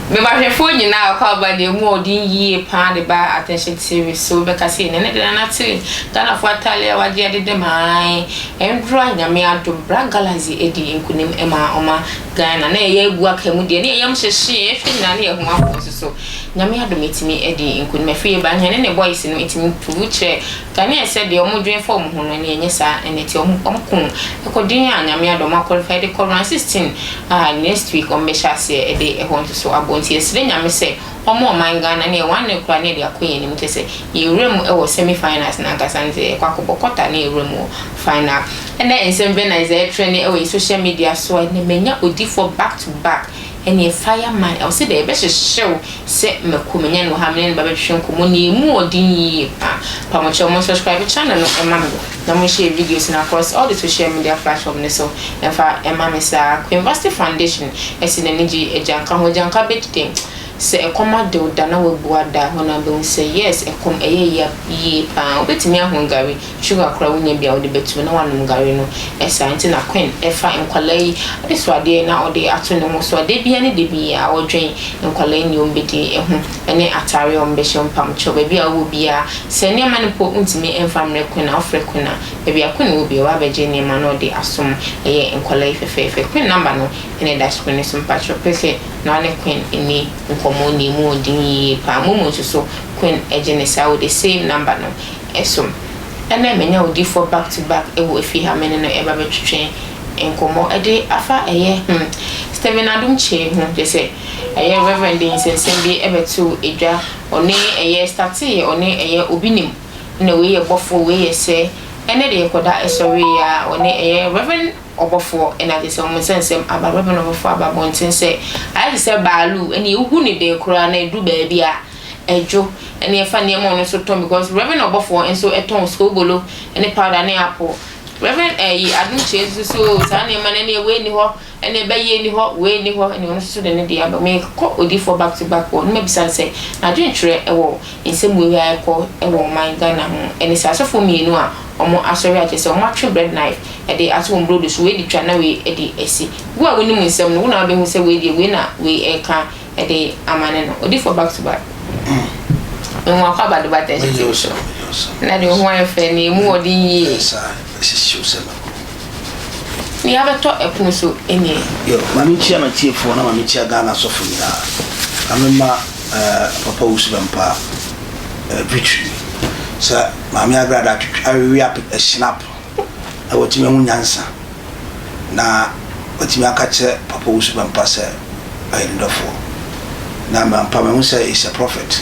Mebahwɛfoɔ nyinaa a ɔkɔ aba deɛ mu a ɔde yie paa de ba Attention TV so bɛka sɛ yɛn ne de nana te Ghanafoɔ ataale a wagye adede maa ɛndora nyame adom bra Galaxy adi nkunim ma ɔma Ghana na yɛyɛ agu aka mu deɛ ne yɛn yam hyehyee ɛhwɛ nyinaa ne yɛn ho ahoɔ so so Nyame adom ɛtumi ɛdi nkunim ɛfiri yɛ ba hɛne ne boys no ɛtumi prove kyerɛ Ghanaians sɛ deɛ ɔmo dwen fa ɔmo ho no ɛneɛ ɛnyɛ saa ɛna ɛti ɔmo ɔmo ko ɛkɔ den a Nyame adom ɔmo aqualify de kɔ round 16 a next week ɔmo bɛhyɛ aseɛ ɛde ɛhɔ nso so abɔ nti yɛsrɛ Nyame sɛ Wɔn a ɔman Ghana ne wɔn annen koraa no de akɔ yɛn anim kyerɛ sɛ yɛwura mu wɔ semi finals no ankasa ne sɛ yɛkɔ akɔbɔ quarter na yɛwura mu wɔ final. Ɛnɛ nsɛm bɛn na Isaiah trɛnee wɔ yɛn social media so a ɛnɛ manya odifoɔ back to back ɛneɛ fire man a ɔse dɛ yɛbɛhyehyew sɛ mako manya no wɔ ha a mene no ba bɛtwetwe nkɔmmɔ na yɛmu ɔden yie paa. Mpamokyɛ mo subscribe channel no ma me. Na mo nhyɛ videos no across all the social media platform no so mfa mma me saa. Queen Vasti Foundation asi n'ani gye agyanka ho. Agyanka bɛdi dɛn? Sɛ ɛkɔm ade wo da na wabu ada a, hɔ no ara bɛhu sɛ yes, ɛkɔm, ɛyɛ yea yie pa ara. Wobɛtumi ahon gari, sugar koraa wonnya bi a wode bɛtom na woanom gari no. Ɛsaa nti na Queen fa nkwadaa yi adesuadeɛ na ɔde ato ne ho so a da biara ne da biara ɔdwen nkwadaa yi nea wɔbɛdi ho. ne atare a wɔbɛhyɛ, mpabokyɛw, baabi a wowɔ biara. Sɛ nneɛma no mpo wontumi mfa mmrɛ Quinn a, wofrɛ Quinn a, baabi a Quinn wɔ biara, ɔba bɛgye nneɛma na ɔde asom. Ɛyɛ nkwadaa yi fɛfɛɛfɛ. Quinn nɔmba no na ɛda screen no so. Mpakyɛw, pɛ sɛ na wo ne Quinn nni nkɔmmɔ na emu wɔ den yiye paa. Mmom nso so, Quinn gye no saa, ɔde same nɔmba no som. Ɛnnɛ manya odiyifoɔ back to back wɔ efie ha a me ne no reba abɛtwetwe nkɔmmɔ de afa ɛyɛ hmm Stephen Adom Kyei ho, kyerɛ sɛ, ɛyɛ Rev. de nsɛnsɛm bi bɛtoo dwa, ɔne ɛyɛ starteeɛ, ɔne ɛyɛ obi nim, ɛna wei yɛ bɔfoɔ, wei yɛ sɛ, ɛnɛ deɛ kɔda ɛsɔreeɛ a, ɔne ɛyɛ Rev. ɔbɔfoɔ na agye sɛ wɔn nsɛnsɛm aba, Rev. ɔbɔfoɔ aba abɔnten sɛ, ayɛ te sɛ baaluu, ɛnneɛ wogu no dee koraa na ɛduru baabi a, ɛdwo, ɛnneɛ fa nneɛma a ɔno nso tɔn, because Rev. ɔbɔfoɔ nso tɔn soobolo ne powder ne apple, Rev. Ɛyi, Adom Kyerɛ nso so, oo, saa nneɛma no, ɛnneɛ wei nni hɔ, Ɛna ɛbɛ yei ni hɔ, wei ni hɔ, ɛna ɔno nso so de ne deɛ aba. Me kɔ odiifoɔ back to back wɔ, na ma bisa no sɛ, n'adwentwerɛ ɛwɔ nsɛm wei wei a ɛkɔ ɛwɔ ɔman Ghana ho, ɛne sɛ asɔfoɔ mmienu a ɔmo asɔre a kyerɛ sɛ ɔmo atwe bread knife ɛde ato wɔn brodo so, wei de twa na wei ɛde ɛsi. Wo a wo nim nsɛm no, wo na wobɛ hu sɛ wei deɛ wei na wei ɛɛka ɛde ama ne no. Odiifoɔ back to back. Me hu akɔ abado but ɛnhyɛ TV so. Na deɛ wo ho ayɛ fɛ, na ɛmu ɔden yie. Ne yɛabɛtɔ ɛpono so nie. Yo, ma me nkyia m'atiefoɔ na ma me nkyia Ghana asɔfo nyinaa. Ma me mma eh, Papa Owusu Bɛmpaa eh, Victory sɛ Maame Agrada atwitwi awewe ape eh, Snap na watumi ahu nyansa na watumi aka kyerɛ Papa Owusu Bɛmpa sɛ ɔyɛ ne dɔfoɔ na m'ampa mahu sɛ is a prophet.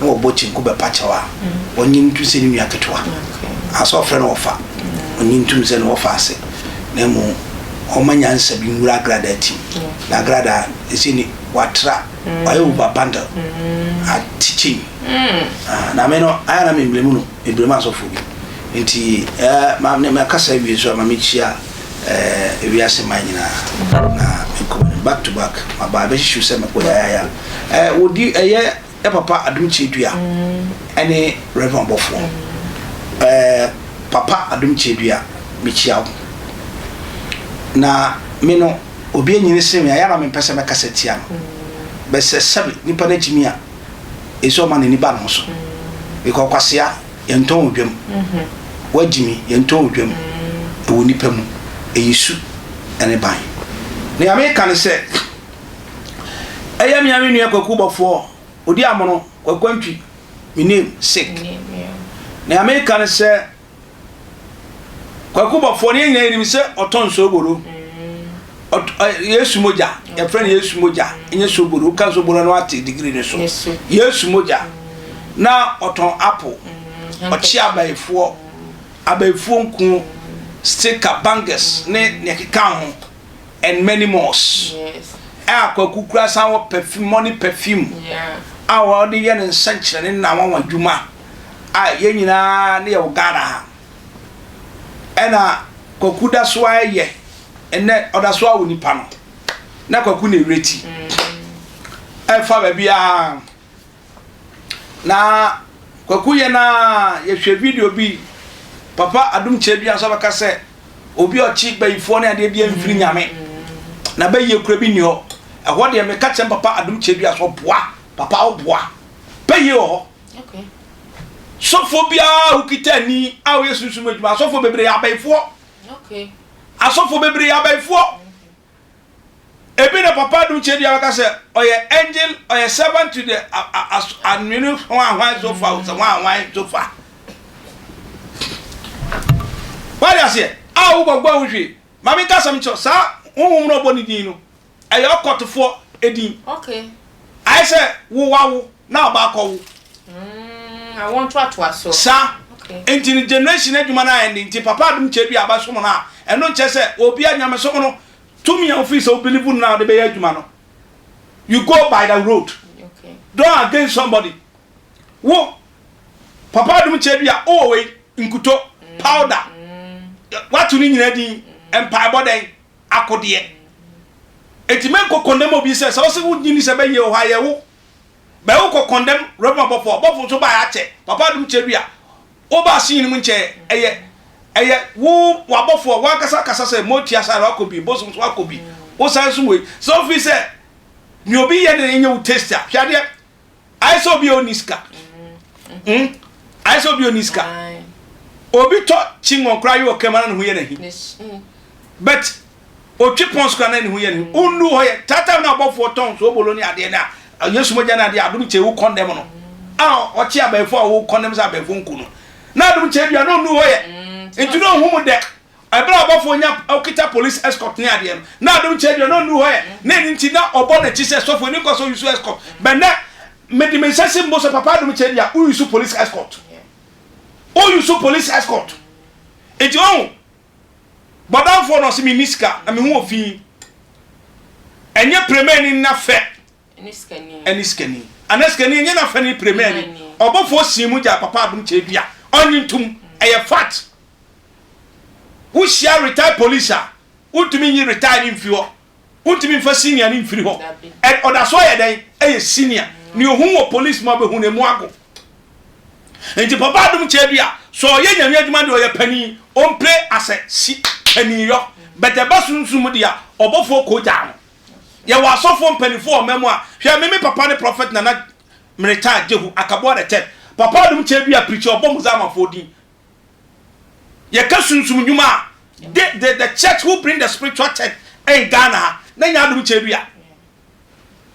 na wɔbɔ kyenku bɛpa kyɛw a, wɔnnye no ntom sɛ ne nua ketewa. Ansa wɔfrɛ no ɔfa, ɔnnye ntom sɛ ne wɔfa ase, na mmom ɔmma nyansa bi nwura agradaa ti mu, na agradaa no sɛ ni, watra, ɔyɛ wo ba bundle, a teaching. Na me no, ayɛ a na memmerɛ mu no, Ebirem asɔfo bi nti eh, ma ne makasa wie so a ma mekyia eh, wiase man nyinaa na menkɔ m'anim back to back ma baa bɛhyehyew sɛ mekɔ yayaya eh, wɔdi ɛyɛ eh, papa adom kyɛ dua ɛne reverend ɔbɔfoɔ eh, papa adom kyɛ dua mekyia wo na me no obi anyini se me ayɛ na mempɛ sɛ mɛkasa tia no bɛsɛ sɛbe nipa no akyimi a Esi ɔma n'ani ba ne ho so. Meka ɔkwasea, yɛntɔn wɔ dwam. Woagyimi, yɛntɔn wɔ dwam. Ɛwɔ nnipa mu, ɛyɛ su ne ban. Nea meka ne sɛ, ɛyɛ me ara me nua Kwaku Bɔfoɔ, Odiamono, Kwaku Antwi, me name, sick. Nea meka ne sɛ, Kwaku bɔfoɔ no yɛn nyinaa yɛnim sɛ ɔtɔ nsoboro yesu mogya yɛfrɛ no yesu mogya ɛnyɛ soboro woka soboro no ate digiri no so yesu mogya na ɔtɔn apo mm, ɔkye abayifoɔ abayifoɔ nku stika bangers ne nea ɛkeka ho and many more a kwaku kura san wɔ perfume money perfume a wɔde yɛ ne nsɛnkyerɛnne na wɔn adwuma a yɛn nyinaa ne yɛwɔ Ghana ha. Ɛna Kwaku da so ara yɛ ɛnɛ ɔda so ara wɔ nipa no na Kwaku na ɛwerɛ ti ɛmfa baabi a na Kwaku yɛ na yɛhwɛ video bi papa adom kyerɛ bi nso bɛka sɛ obi ɔkye bayifoɔ ne adeɛ deɛ mfiri nyame na bɛyie kura bi nni hɔ ɛhɔ deɛ meka kyɛm papa adom kyerɛ bi a sɛ ɔboa papa ɔboa bɛyie wɔ hɔ Sɔfoɔ biara a wokita ani a woyɛ sunsum adwuma asɔfoɔ bebree yɛ abayifoɔ asɔfoɔ bebree yɛ abayifoɔ ebi na papa dum kyɛ dua bɛka sɛ ɔyɛ angel ɔyɛ servant to the anwene ho ahwan so fa sɛ ho ahwan so fa wade aseɛ a wobɔgbɔ ho hwee maame nkasɛm kyerɛ saa honhom no ɔbɔ ne din no Ɛyɛ ɔkɔtofoɔ edin. Okay. Ayɛ sɛ wo wawo na ɔba akɔwo. Mm, awo ntoatoa so. Saa. Okay. Nti no generation adwuma no ayɛ ne nti papa adom kyɛ bi a bɛsom no a ɛno nkyɛ sɛ obia nyamesom no tumi a wofiri sɛ wo believe no na wode bɛyɛ adwuma no. You go by the road. Okay. Don't against somebody. Wo papa adom kyɛ bi a wowɔ wei nkuto, powder, wato ne nyina din, mpaebɔ dɛn, akodeɛ. Enti me nkɔ kɔndɛm obi sɛ sɛ ɔse wo nyini sɛ bɛ yɛ oha yɛ wo bɛ wo kɔ kɔndɛm rɛbɔ abɔfo abɔfo nso baɛ akyɛ papa adum kyɛ dua wo ba ase nyini mu nkyɛ ɛyɛ ɛyɛ wo wabɔfo a wankasa kasa sɛ mo tia saa wakɔ bi bosom nso wakɔ bi wo san nso wei sɛ ofi sɛ nea obi yɛ ne nyɛ wo taste a hwɛ adeɛ ayɛ sɛ obi a ɔnni sika hmm? ayɛ sɛ obi a ɔnni sika obi tɔ kyingɔn koraa yɛ ɔkɛm ara ne ho yɛ n'ahi mm. but ɔtwe pɔn so koraa na ne ho yɛ n'ahi wonnu hɔ yɛ taataa no abɔfoɔ tɔn so obolo ne adeɛ no a yesu mogya no adeɛ adom kyɛ wo kɔndɛm no a ɔkye abɛɛfo a wo kɔndɛm sɛ abɛɛfo nku no na adom kyɛ dua na ɔnnu hɔ yɛ mm, nti na ɔhu mu dɛ Ɛberɛ a ɔbɔfoɔ nya ɔkita police escort ne adeɛ no, na Adom kyɛ deɛ na ɔnnu hɔ ɛ, na ɛno nti na ɔbɔ n'akyi sɛ sɔfo ani nkɔ sɛ ɔyusu escort, bɛ nnɛ mede me nsa si me bo sɛ Papa Adom kyɛ deɛ woyusu police escort, woyusu police escort, nti wahu bɔdamfoɔ no ɔse menni sika na me ho wɔ fii, ɛnyɛ premani na fɛ. ne sikani anaa sikani ɛnyɛ n'afɛ ne premier ni ɔbɔfoɔ sii mu gyaa papa adom kyɛ bi a ɔnye ntom ɛyɛ fat wohyia retired police a wontumi nyi retired ne mfiri hɔ wontumi mfa senior ne mfiri hɔ ɔda so ayɛ dɛn ɛyɛ senior ne ohun wɔ police mu abɛhu ne mu ago nti papa adom kyɛ bi a sɛ ɔyɛ nyame adwuma deɛ ɔyɛ pani ɔmpɛ asɛ si pani yɔ bɛtɛ ba sunsum deɛ ɔbɔfoɔ kɔ gyaa no Yɛwɔ asɔfoɔ mpaninfoɔ wɔ ɔman mu a, hwɛ me me papa ne Prophet Nana Miritaa Jehu Akaboa the third. Papa adum kyɛ dua preacher ɔbɔ Muzamanfoɔ din. Yɛka sunsum nnwuma a, the the the church who bring the spiritual church in Ghana ha na nyɛ adum kyɛ dua.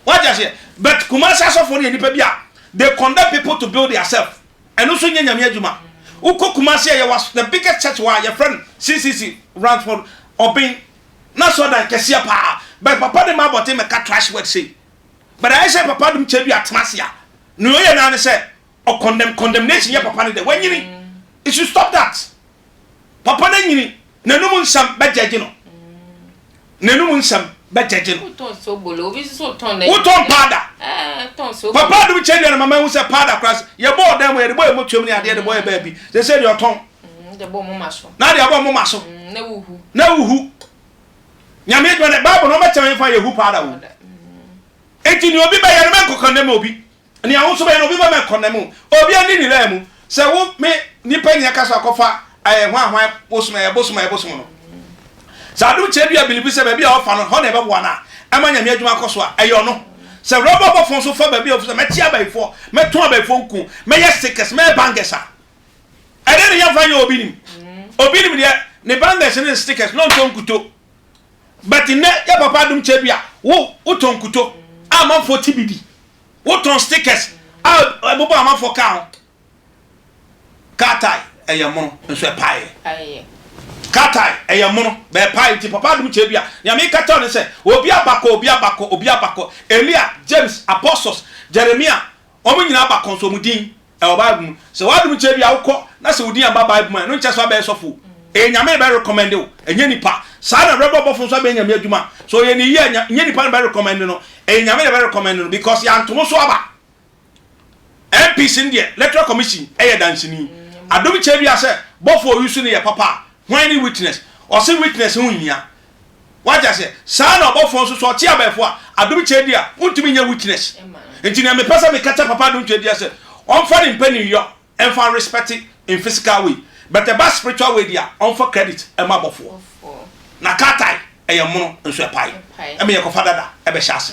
Wate aseɛ? But Kumasi asɔfoɔ no yɛ nipa bi a, they condemn people to build their self. Ɛno nso nyɛ Nyame adwuma. Wokɔ Kumasi a, yɛwɔ the biggest church wɔ ha, yɛfrɛ no CCC Ransford Oben. na so adan kɛseɛ paa but papa de ma abɔten mɛka trash word sei but ayɛ sɛ papa dom kyɛ bi atena ase a nea ɔyɛ naa ne sɛ ɔ condemn condemnation yɛ papa no dɛ wanyini it should stop that papa no anyini n'anum nsɛm bɛ judge no n'anum nsɛm bɛ judge no wotɔn paada papa dom kyɛ dua no mama ehu sɛ paada koraa yɛbɔ ɔdan mu yɛde bɔ yɛ mɔtuam ne adeɛ de bɔ yɛ baabi sɛ sɛ deɛ ɔtɔn Mm, de bɔ moma so. Na de abɔ moma so. Mm, na wuhu. Na wuhu. Nyame adwuma dɛ Bible no ɔbɛkyɛ yɛn fa yɛ hu paa da wo. Eti ni obi bɛyɛ no mɛ nkɔkɔndɛm obi. Ni ahosuo nso bɛyɛ no obi bɛ mɛ nkɔndɛm o. Obi ani ni laa mu. Sɛ wo me nipa ni ɛka so akɔfa ɛyɛ hwan hwan bosom ɛyɛ bosom ɛyɛ bosom no. Sɛ adom kyɛ bi a bilibi sɛ baabi a ɔfa no hɔ na ɛbɛboa no a ɛma nyame adwuma akɔ so a ɛyɛ ɔno. Sɛ rɔba bɔfo nso fa baabi a ɔfo sɛ mɛkye abayifoɔ mɛtɔn abayifoɔ nku mɛyɛ stickers mɛyɛ bangers a Ɛdeɛ ne yɛmfa nyɛ obi nim obi nim deɛ ne bangles ne stickers na ɔntɔ nkuto but nnɛ yɛ papa adom kyɛ bi a wo wotɔ nkuto a amanfoɔ ti bi di wotɔn stickers a ɛbobɔ amanfoɔ kaa ho car tie ɛyɛ mono nso ɛpaeɛ car tie ɛyɛ mono bɛɛpae nti papa adom kyɛ bi a nea meka kyɛw ne sɛ obi abakɔ obi abakɔ obi abakɔ Elia James Apostles Jeremia wɔn nyinaa abakɔ nso wɔn din Ɛwɔ bible mu sɛ wadom kyɛ bia wokɔ na sɛ wodin aba bible mu a ɛno nkyɛ sɛ wabɛyɛ sɔfo o ɛyɛ nyame na bɛ recommend wo ɛnyɛ nipa saa na brɛbɔ bɔfo nso abɛyɛ nyame adwuma sɛ ɔyɛ ne yie a ɛnyɛ nipa na bɛ recommend no ɛyɛ nyame na bɛ recommend no because yɛantomo so aba MPC no deɛ electoral commission ɛyɛ danseni adom kyɛ bia sɛ bɔfo ɔyi so no yɛ papa a hwan ne witness ɔse witness ho nhia Wate aseɛ? Saa na ɔbɔfoɔ nso, sɛ ɔte abɛɛfo a, adom kyɛdi a, wontumi nyɛ witness. Nti nea mepɛ sɛ meka kyɛ papa adom kyɛdi a sɛ, ɔmfa ne mpaninyɔ mfa respect in physical way, but ɛba spiritual way deɛ a, ɔmfa credit mma abɔfoɔ. Na car tire yɛ mono nso ɛpae, ɛma yɛkɔfa dada bɛhyɛ ase.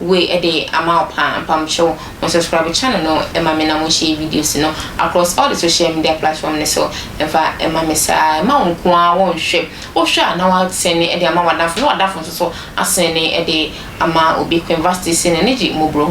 Woi de ama wo paa mpamokyɛw wo subscribe channel no ma me na mo share videos no across all the social media platform no so mfa ma me saa mma wo nko ara wo nhwɛ wo hwɛ a na wa send de ama w'adamfo na w'adamfo nso so asend de ama obi Queenvasty se n'ani gye mmɔborɔ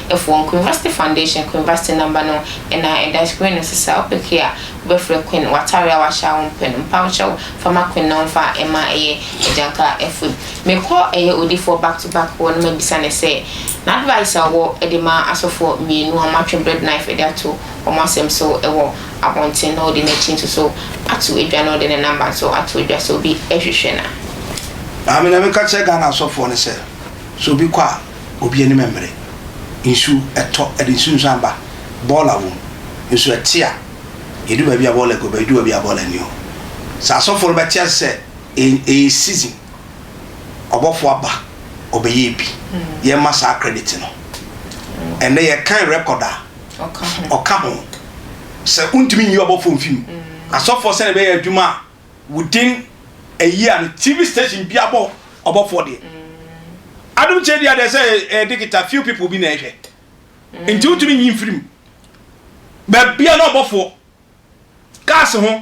ho foɔ Queenvasty foundation Queenvasty number no na ɛda screen no so saa wo pɛ key a wo bɛ frɛ Queen w'atare a w'ahyɛ a wo mpɛ no mpamokyɛw fa ma Queen na ɔmfa mma ɛyɛ agyanka food Me kɔ ɛyɛ odifoɔ back to back hɔ na ma bisa no sɛ na advice a ɔwɔ de ma asɔfoɔ mmienu a wɔn atwe bread knife de ato wɔn asɛm so wɔ abɔnten na ɔde n'akyi nso so ato dwa na ɔde ne number nso ato dwa sɛ obi hwehwɛ no a. Maame na me ka kyerɛ Ghana asɔfoɔ no sɛ sɛ obi kɔ a obi anim mmere, nsuo ɛtɔ ɛde nsuo nso amba, boiler wɔ mu nso ɛte a yɛdu baabi a boiler gu hɔ, bɛdu baabi a boiler nni hɔ, sɛ asɔfoɔ no bɛte ase sɛ ɛyɛ season. ɔbɔfo aba, ɔbɛyɛɛ bi. Yɛmma saa credit no. Ɛnnɛ yɛkan record a, ɔka ho. Sɛ wontumi nyi ɔbɔfo mfi mu, asɔfoɔ sɛdeɛ ɛbɛyɛ adwuma a, within a year no, TV station bi abɔ ɔbɔfoɔ deɛ. Adom kyɛ deɛ deɛ sɛ ɛyɛ digital, few people bi na ɛhwɛ. Nti wontumi nyi mfiri mu. Baabia na ɔbɔfoɔ. Cars ho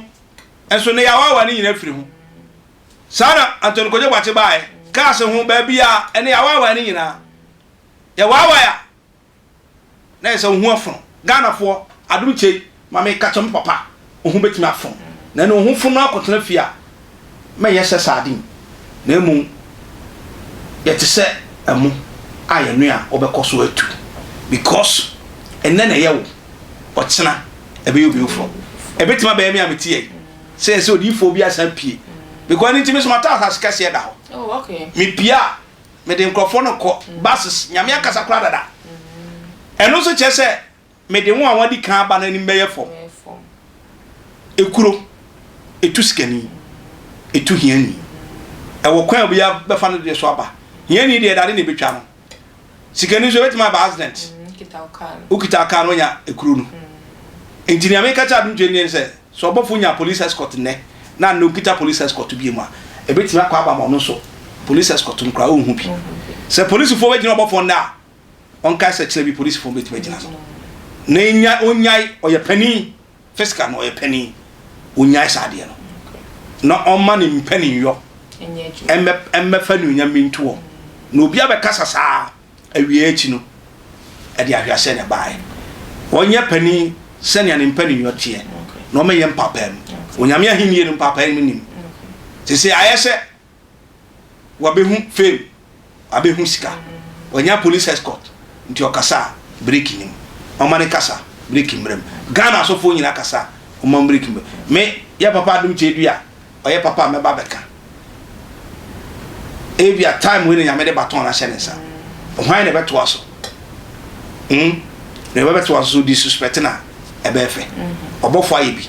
nso, nnɛ yɛawaawa ne nyinaa afiri ho. Saa na Anthony Kojo Boakye baeɛ, kaa se ho baabiara, ɛnne awaawae no nyinaa, yɛ waawae a, na yɛ sɛ wo ho afono. Ghanafoɔ, adom kyɛ yi, ma me ka kyerɛ mo papa, wo ho bɛtumi afono. Nanni wo ho fono akɔtena fie a, mɛnyɛ sɛ sardine, na mmom yɛ te sɛ ɛmo a yɛnoa a wobɛkɔ so atu, because ɛnnɛ na ɛyɛ wo, ɔkyena ɛbɛyɛ obi foforɔ. Ɛbɛtumi abɛyɛ me a mete ha yi. sɛ sɛ odiyifoɔ bi asan pue because ɛno nti me nso ma taa asase kɛseɛ da hɔ oh, okay. mepie a mede nkurɔfoɔ no kɔ mm. buses nyame akasa koraa dada mm. ɛno nso kyerɛ sɛ mede ho a wɔadi kan aba no anim bɛyɛ fam ekuro etu sikani etu hiani ɛwɔ kwan a obiara bɛfa no deɛ so aba hiani deɛ dade na ebetwa no Sikani nso ebetumi aba accident. Mm, Wokita car no onya ekuro no. Mm. Nti nea meka kyerɛ adum twɛn sɛ sɛ ɔbɔfo nya police escort nnɛ na nnɛ okita police escort bi mu a ebetumi akɔ aba ma ɔno nso police escort no koraa ɔnhu bi. Sɛ polisifo bɛgyina ɔbɔfo nnɛ a ɔnkae sɛ kyerɛ bi polisifo bɛtumi agyina no. Na enya onyae ɔyɛ panin Fiska no ɔyɛ panin ɔnyae saa adeɛ no na ɔma ne mpaninyɔ mmɛfa nuonyam bi ntoɔ na obi abɛkasa saa awie akyi no ɛde ahweaseɛ na ɛbaeɛ ɔnyɛ panin sɛnea ne mpaninyɔ teɛ na ɔmɛyɛ mpapaa mu onyame ahennie no mpapaa no nim te sɛ ayɛ sɛ Wabehu fame, wabehu sika. Wanya police escort, nti ɔkasa a break nni mu. Ɔma ne kasa, break mmra mu. Ghana asɔfoɔ nyinaa kasa a, ɔma mu break mmra mu. Me, yɛ papa adom kyɛ dua, ɔyɛ papa a mɛba abɛka. Ebia time wei na Nyame de baton no ahyɛ ne nsa. Hwan na ɛbɛtoa so? Hmm? Na ɛbɛbɛtoa so so disrespect no a, ɛbɛyɛ fɛ. Ɔbɔfoɔ ayɛ bi.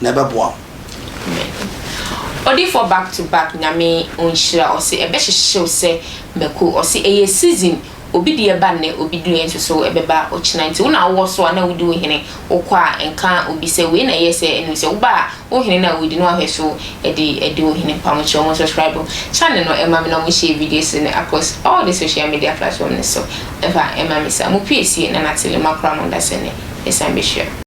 na ɛbɛboa wo. Amen odifoɔ back to back nyame ɔnhyira ɔse ɛbɛhyehyew sɛ mako ɔse ɛyɛ season obi deɛ ba nnɛ obi deɛ nsoso ɛbɛba ɔkyena nti wo na wowɔ so a na wodi wo hene wokɔ a nka obi sɛ wei na ɛyɛ sɛ ɛnum sɛ woba a wo hene no a wodi no ahwɛ so ɛde ɛde wo hene pa mo kyerɛ ɔmo subscribe channel no ɛma me na ɔmo share videos no across all the social media platform no so ɛfa ɛma me sa mo pue sie na natele makora mo nda sɛ ne ɛsan bɛhyira.